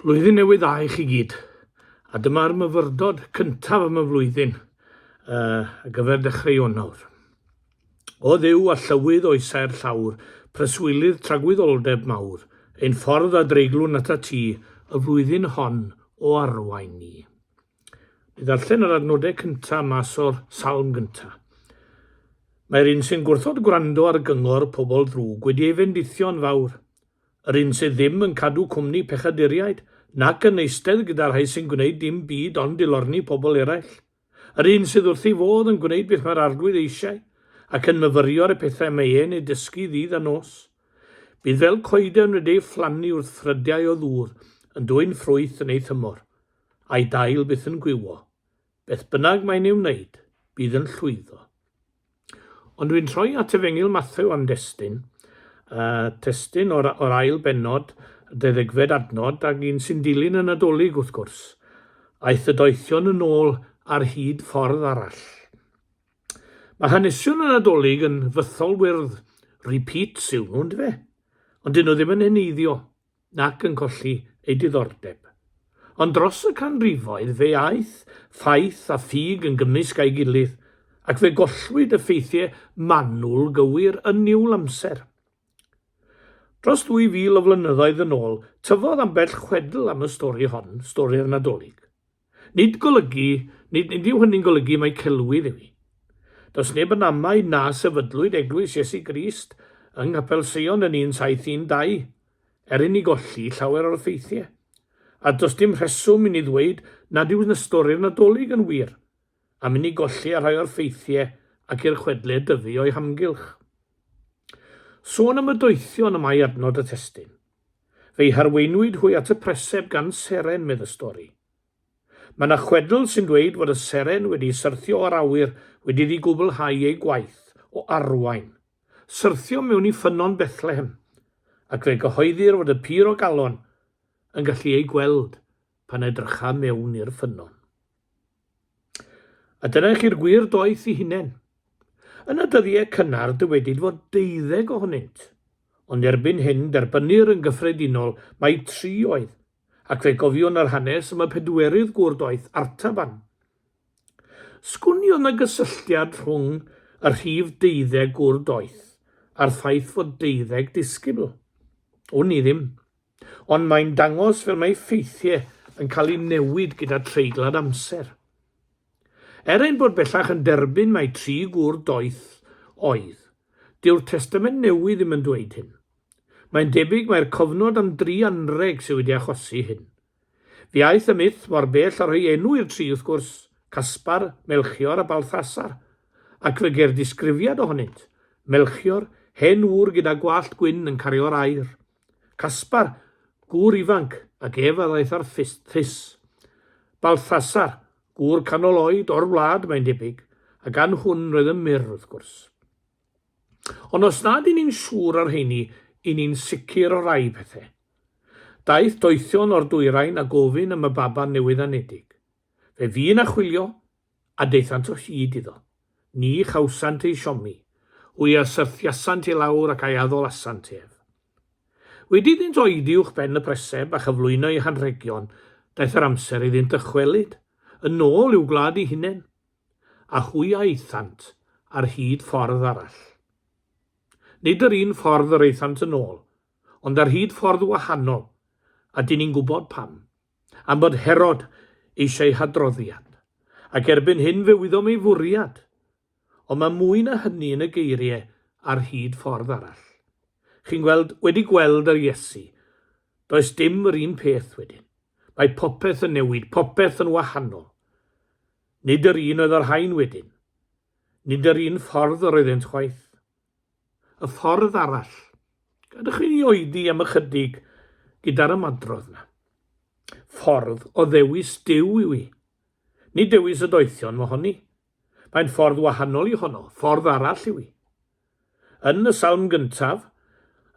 Blwyddyn newydd dda i chi gyd. A dyma'r myfyrdod cyntaf am y flwyddyn uh, a gyfer dechrau Ionawr. O ddew a llywydd o'i saer llawr, preswylydd tragwyddoldeb mawr, ein ffordd a dreiglwn at y ti, y flwyddyn hon o arwain ni. Mi ddarllen yr adnodau cyntaf mas o'r salm gyntaf. Mae'r un sy'n gwrthod gwrando ar gyngor pobl ddrwg wedi ei fendithio'n fawr. Yr un sydd ddim yn cadw cwmni pechaduriaid, nac yn eistedd gyda rhai sy'n gwneud dim byd ond dilorni pobl eraill. Yr un sydd wrth ei fodd yn gwneud beth mae'r arglwydd eisiau, ac yn myfyrio ar y pethau mae e'n ei dysgu ddydd a nos. Bydd fel coeden wedi ei phlannu wrth ffrydiau o ddŵr, yn dwyn ffrwyth yn ei thymor. a'i dail byth yn gwywo. Beth bynnag mae'n ei wneud, bydd yn llwyddo. Ond dwi'n troi at efengyl Matthew am destyn, a testyn o'r, or ail benod, deddegfed adnod, ag un sy'n dilyn y Nadolig wrth gwrs. Aeth y doethion yn ôl ar hyd ffordd arall. Mae hanesion y Nadolig yn fythol wyrdd, repeats yw nhw, ynddo fe? Ond dyn nhw ddim yn heneiddio, nac yn colli ei diddordeb. Ond dros y canrifoedd fe aeth ffaith a ffug yn gymysg â'i gilydd, ac fe gollwyd y ffeithiau manwl gywir yn niwl amser. Dros ddwy fil o flynyddoedd yn ôl, tyfodd ambell chwedl am y stori hon, stori'r Nadolig. Nid golygu, nid, nid yw hynny'n golygu mai celwydd yw hi. Does neb yn amau na sefydlwyd Eglwys Iesu Grist yng Nghapel Sion yn 1712, er inni golli llawer o'r ffeithiau. A does dim rheswm inni ddweud nad yw na stori'r Nadolig yn wir, am inni golli a rhai o'r ffeithiau ac i'r chwedle dyfu o'i hamgylch. Sôn am y doethion y mae adnod y testun. Fe'i harweinwyd hwy at y preseb gan seren, medd y stori. Mae yna chwedl sy'n dweud fod y seren wedi syrthio o'r awyr wedi iddi gwblhau ei gwaith o arwain. Syrthio mewn i ffynnon Bethlehem, ac fe gyhoeddir fod y pur o galon yn gallu ei gweld pan edrycha mewn i'r ffynnon. A dyna i chi'r gwir doeth i hunen. Yn y dyddiau cynnar dywedid fod deuddeg ohonynt, ond erbyn hyn derbynnir yn gyffredinol mai tri oedd, ac fe gofiwn yr hanes am y pedwerydd gŵr doeth, Artaban. Sgwn i oedd na gysylltiad rhwng y rhif deuddeg gŵr doeth a'r ffaith fod deuddeg disgybl? Wn i ddim. Ond mae'n dangos fel mae ffeithiau yn cael eu newid gyda treiglad amser. Er ein bod bellach yn derbyn mai tri gŵr doeth oedd, dyw'r Testament Newydd ddim yn dweud hyn. Mae'n debyg mai'r cofnod am dri anrheg sydd wedi achosi hyn. Fe aeth y myth mor bell â rhoi enw i'r tri wrth gwrs, Caspar, Melchior a Balthasar, ac fe geir disgrifiad ohonynt, Melchior, hen ŵr gyda gwallt gwyn yn cario'r aer. Caspar, gŵr ifanc, ac ef a ddaeth â'r ffys. Balthasar, gŵr canol oed, o'r wlad, mae'n debyg, a gan hwn roedd yn mur, wrth gwrs. Ond os nad i ni'n siŵr o'r rheini, i ni'n sicr o rai pethau. Daeth doethion o'r dwyrain a gofyn am y baban newydd-anedig. Fe fu na chwilio, A daethant o hyd iddo. Ni chawsant ei siomi. Hwy a syrthiasant i lawr ac a'i addolasant ef. Wedi iddynt oedi uwch ben y preseb a chyflwyno eu hanrhegion, daeth yr amser iddynt dychwelyd yn ôl i'w gwlad eu hunain. A hwy a aethant ar hyd ffordd arall. Nid yr un ffordd yr aethant yn ôl, ond ar hyd ffordd wahanol, a dŷn ni'n gwybod pam. am fod Herod eisiau hadroddiad, ac erbyn hyn fe wyddom ei fwriad. Ond mae mwy na hynny yn y geiriau ar hyd ffordd arall. Chi'n gweld, wedi gweld yr Iesu, does dim yr un peth wedyn. Mae popeth yn newid, popeth yn wahanol. Nid yr un oedd y rhain wedyn. Nid yr un ffordd yr oeddynt chwaith. Y ffordd arall. Gadewch i ni oedi am ychydig gyda'r ymadrodd na. Ffordd o ddewis Duw yw i. Nid dewis y doethion mohoni. Mae'n ffordd wahanol i honno, ffordd arall yw i. Yn y salm gyntaf,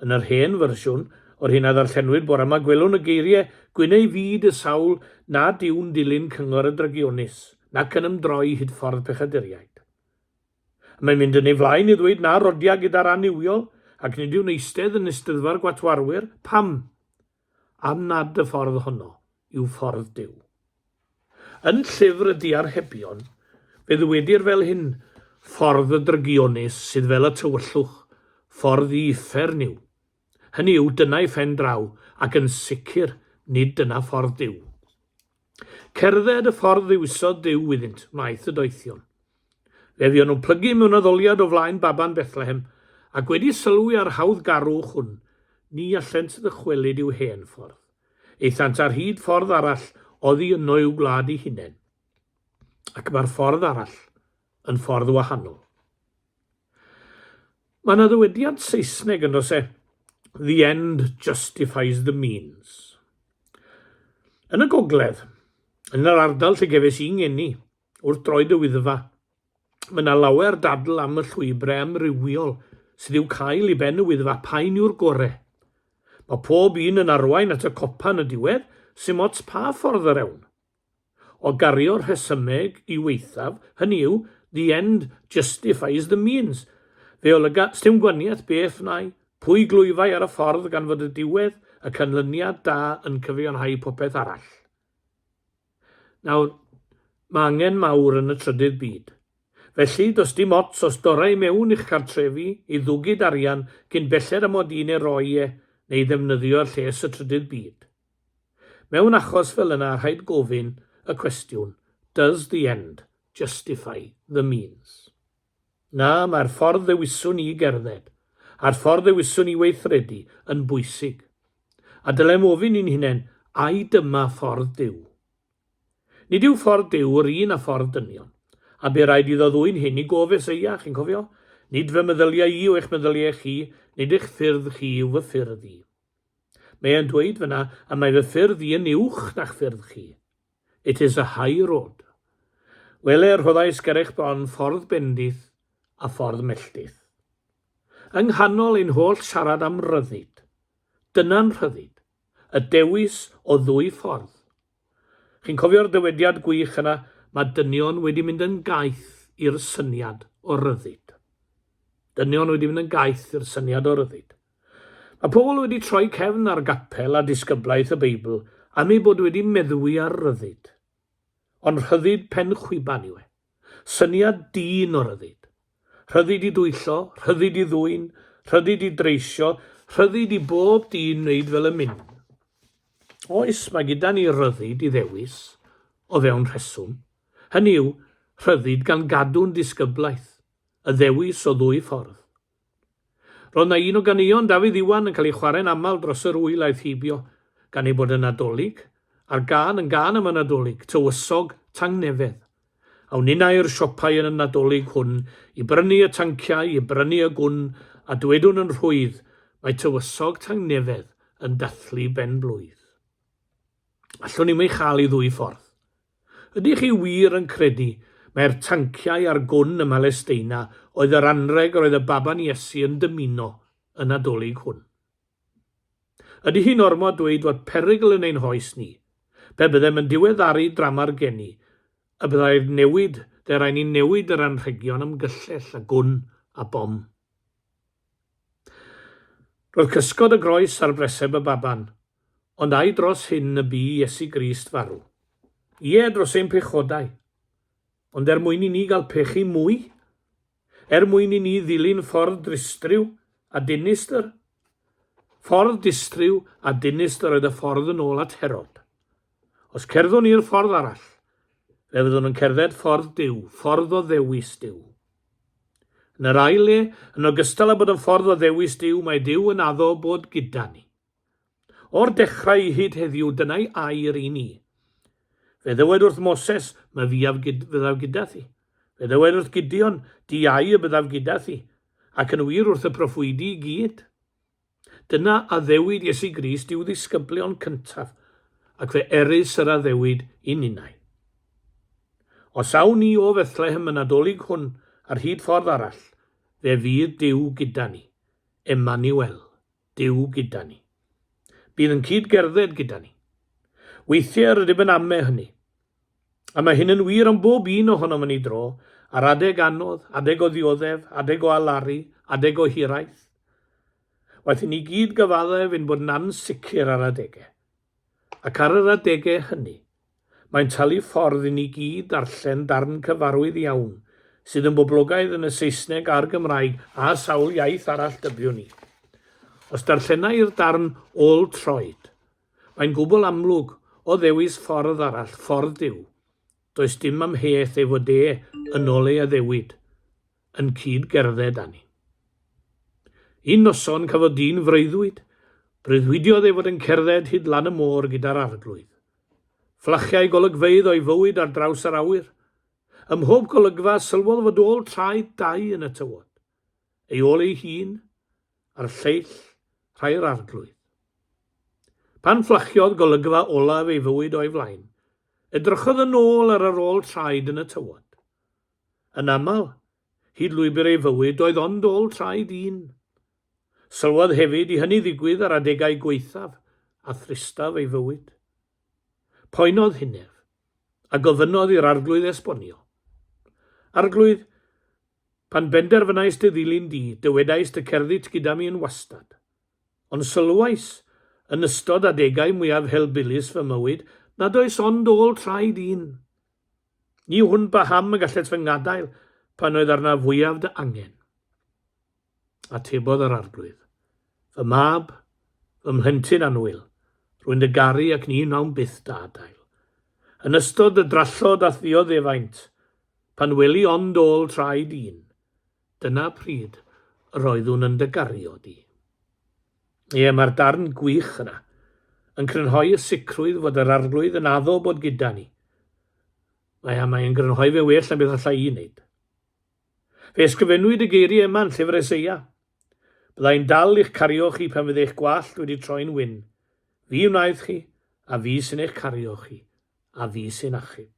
yn yr hen fersiwn, o'r hyn a ddarllenwyd bore yma gwelwn y geiriau Gwyn ei fyd y sawl nad yw'n dilyn cyngor y drygionus, nac yn ymdroi hyd ffordd pechaduriaid. Mae'n mynd yn ei flaen i ddweud na rodiad gyda'r annuwiol ac nid yw'n eistedd yn Eisteddfa'r Gwatwarwyr. Pam? Am nad y ffordd honno yw ffordd Duw. Yn Llyfr y Diarhebion, fe ddywedir fel hyn, Ffordd y drygionus sydd fel y tywyllwch, ffordd i uffern yw, Hynny yw, dyna ei phen draw, ac yn sicr, nid dyna ffordd Duw. Cerdded y ffordd ddiwisodd Duw iddynt wnaeth y doethion. Fe fuon nhw'n plygu mewn addoliad o flaen baban Bethlehem, ac wedi sylwi ar hawdd garwch hwn, ni allent ddychwelyd i'w hen ffordd. Eithant ar hyd ffordd arall oddi yno i'w gwlad i hunain. Ac mae'r ffordd arall yn ffordd wahanol. Mae yna ddywediad Saesneg yn dose, The end justifies the means. Yn y gogledd, yn yr ardal lle gefes i'n ngeni, wrth droed y Wyddfa, mae yna lawer dadl am y llwybrau amrywiol sydd i'w cael i ben y Wyddfa, paun yw'r gore. Mae pob un yn arwain at y copa yn y diwedd, symots pa ffordd yr ewn. O gario rhesymeg i waethaf, hynny yw, the end justifies the means. Fe olyga, sdim gwaniath beth nai, pwy glwyfai ar y ffordd gan fod y diwedd, y canlyniad da yn cyfiawnhau popeth arall. Nawr, mae angen mawr yn y trydydd byd. Felly, does dim ots os dora i mewn i'ch cartrefi i ddwgyd arian cyn belled â mod i'n ei roi e neu ddefnyddio'r lles y trydydd byd. Mewn achos fel yna rhaid gofyn y cwestiwn, does the end justify the means? Na, mae'r ffordd ddewiswn i gerdded, a'r ffordd ddewiswn i weithredu, yn bwysig. A dylem ofyn i'n hunain, ai dyma ffordd Duw? Nid yw ffordd Duw yr un â ffordd dynion, a bu raid iddo ddwyn hyn i gof Eseia, chi'n cofio? Nid fy meddyliau i yw eich meddyliau chi, nid eich ffyrdd chi yw fy ffyrdd i. Mae e'n dweud fyna, a mae fy ffyrdd i yn uwch na'ch ffyrdd chi. It is a high road. Wele, rhoddais ger eich bron ffordd bendith a ffordd melltith. Yng nghanol ein holl siarad am ryddid, dyna'n rhyddid, y dewis o ddwy ffordd, Chi'n cofio'r dywediad gwych yna, mae dynion wedi mynd yn gaeth i'r syniad o ryddid. Dynion wedi mynd yn gaeth i'r syniad o ryddid. Mae pobl wedi troi cefn ar gapel a disgyblaeth y Beibl am eu bod wedi meddwi ar ryddid. Ond rhyddid pen chwiban yw e. Syniad dyn o ryddid. Rhyddid i dwyllo, rhyddid i ddwyn, rhyddid i dreisio, rhyddid i bob dyn wneud fel y myn. Oes, mae gyda ni ryddid i ddewis, o fewn rheswm, hynny yw, rhyddid gan gadw'n ddisgyblaeth, y ddewis o ddwy ffordd, Roedd na un o ganeuon Dafydd Iwan yn cael ei chwarae'n aml dros yr wyl aeth heibio, gan ei bod yn Nadolig, a'r gân yn gân am y Nadolig, tywysog, tangnefedd. Awn inna i'r siopau yn y Nadolig hwn i brynu y tanciau, i brynu y gwn, a dwedwn yn rhwydd, mae tywysog tangnefedd yn dathlu ben-blwydd. Allwn i'm ei chael i ddwy ffordd. Ydych chi wir yn credu mai'r tanciau a'r gwn ym Mhalesteina oedd yr anrheg yr oedd y baban Iesu yn dymuno y Nadolig hwn? Ydy hi'n ormod dweud fod perygl yn ein hoes ni? Pe byddem yn diweddaru drama'r geni, y byddai'r newid, fe rai ni'n newid yr anrhegion am gyllell a gwn a bom. Roedd cysgod y groes ar breseb y baban, ond ai dros hyn y bu Iesu Grist farw? Ie, dros ein pechodau. Ond er mwyn i ni gael pechu mwy? Er mwyn i ni ddilyn ffordd dristriw a dinistr? Ffordd distriw a dinistr oedd y ffordd yn ôl at Herod. Os cerddwn ni'r ffordd arall, fe fyddwn yn cerdded ffordd Duw, ffordd o ddewis Duw. Yn yr ail le, yn ogystal â bod yn ffordd o ddewis Duw, mae Duw yn addo bod gyda ni. O'r dechrau i hyd heddiw, dyna'i air i ni. Fe ddywed wrth Moses, my fiaf gyd, fyddaf gyda thi. Fe ddywed wrth Gideon, di ai y byddaf gyda thi, ac yn wir wrth y proffwydi i gyd. Dyna addewid Iesu Grist i'w ddisgyblion cyntaf, ac fe erys yr addewid i ninnau. Os awn ni o Fethlehem y Nadolig hwn ar hyd ffordd arall, fe fydd Duw gyda ni, Emmanuel, Duw gyda ni. Bydd yn cyd-gerdded gyda ni. Weithiau rydym yn ame hynny, A mae hyn yn wir am bob un ohonom yn ei dro, ar adeg anodd, adeg o ddioddef, adeg o alaru, adeg o hiraeth. Waeth i ni gyd gyfaddef ein bod yn ansicr ar adegau. Ac ar yr adegau hynny, mae'n talu ffordd i ni gyd darllen darn cyfarwydd iawn, sydd yn boblogaidd yn y Saesneg a'r Gymraeg a sawl iaith arall dybiwn i. Os darllena i'r darn ôl troed, Mae'n gwbl amlwg, o ddewis ffordd arall, ffordd Duw. Does dim amheuaeth ei fod e, yn ol ei addewid, yn cyd gerdded â ni. Un noson cafodd dyn freuddwyd, breuddwydiodd ei fod yn cerdded hyd lan y môr gyda'r Arglwydd. Fflachiau golygfeydd o'i fywyd ar draws yr awyr. Ym mhob golygfa, sylwodd fod ôl traed dau yn y tywod. ei ôl ei hun ar lleill rhai'r Arglwydd. Pan fflachiodd golygfa olaf ei fywyd o'i flaen, edrychodd yn ôl ar yr ôl traed yn y tywod. Yn aml, hyd lwybr ei fywyd oedd ond ôl traed un. Sylwodd hefyd i hynny ddigwydd ar adegau gwaethaf a thristaf ei fywyd. Poenodd hunef, a gofynnodd i'r Arglwydd esbonio. Arglwydd, Pan benderfynaist dy ddilyn di, dywedaist y cerdit gyda mi yn wastad. Ond sylwais, yn ystod adegau mwyaf helbulus fy mywyd, nad oes ond ôl traed un. Ni wn paham y gallet fy ngadael pan oedd arnaf fwyaf dy angen. atebodd yr Arglwydd. Fy mab, fy mhlentyn annwyl, rwy'n dy garu ac ni wnawn byth dy adael. Yn ystod y drallod a ddioddefaint, pan weli ond ôl traed un, dyna pryd yr oeddwn yn dy gario di. Ie, mae'r darn gwych yna yn crynhoi y sicrwydd fod yr Arglwydd yn addo bod gyda ni. Mae a mae'n grynhoi fe well na beth allai i wneud. Fe ysgrifennwyd y geiriau yma yn Llyfr Eseia, Byddai'n dal i'ch cario chi pan fydd eich gwallt wedi troi'n wyn. Fi wnaeth chi, a fi sy'n eich cario chi, a fi sy'n achub.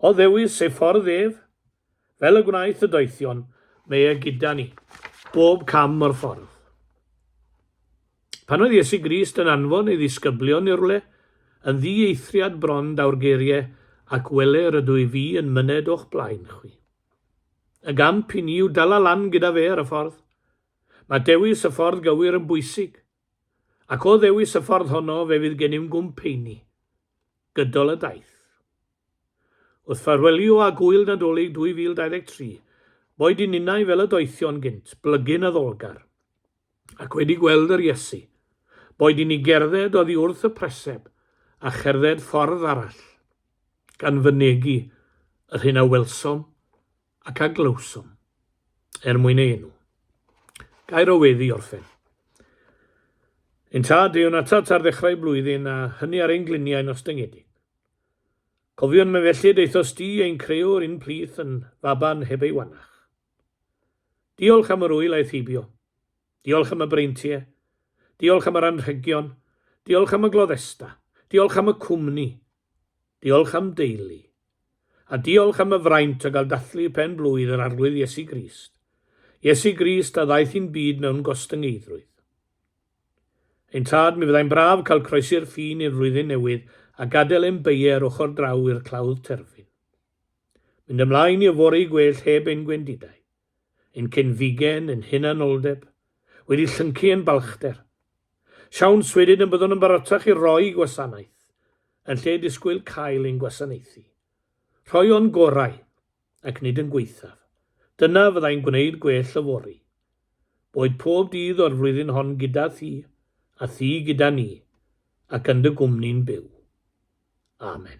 O ddewis ei ffordd ef, fel y gwnaeth y doethion, mae e gyda ni, bob cam o'r ffordd. Pan oedd Iesu Grist yn anfon ei ddisgyblion i rywle, yn ddieithriad bron daw'r geiriau, Ac wele, rydw i fi yn myned o'ch blaen chwi. Y gamp i ni yw dala lan gyda fe ar y ffordd. Mae dewis y ffordd gywir yn bwysig. Ac o ddewis y ffordd honno, fe fydd gennym gwmp heini. Gydol y daith. Wrth ffarwelio â gŵyl Nadolig 2023, boed i ninnau fel y doethion gynt, blygyn addolgar. ac wedi gweld yr Iesu, boed i ni gerdded oddi wrth y preseb a cherdded ffordd arall, gan fynegi yr hyn a welsom ac a glywsom, er mwyn ei enw. Gair o wedd i orffen. Ein Tad, deuwn atat ar ddechrau blwyddyn a hynny ar ein gliniau nos dyngedig. Cofiwn me felly deithos di ein creuwr un plith yn faban heb ei wanach. Diolch am yr ŵyl aeth heibio. Diolch am y breintie. Diolch am yr anrhegion. Diolch am y gloddesta. Diolch am y cwmni. Diolch am deulu. A diolch am y fraint o gael dathlu pen blwydd yr Arglwydd Iesu Grist. Iesu Grist a ddaeth i'n byd mewn gostyngeiddrwydd. Ein tad, mi fyddai'n braf cael croesi'r ffin i'r flwyddyn newydd a gadael ein beie ar ochr draw i'r clawdd terfyn. Mynd ymlaen i yfory gwell heb ein gwendidau, ein cenfigen, ein hunanoldeb, wedi llyncu yn balchder. Siawns wedyn y byddwn yn barotach i roi gwasanaeth, yn lle disgwyl cael ein gwasanaethu. Rhoi o'n gorau, ac nid yn gwaethaf. Dyna fyddai'n gwneud gwell yfory. Boed pob dydd o'r flwyddyn hon gyda thi, a thi gyda ni, ac yn dy gwmni'n byw. Amen.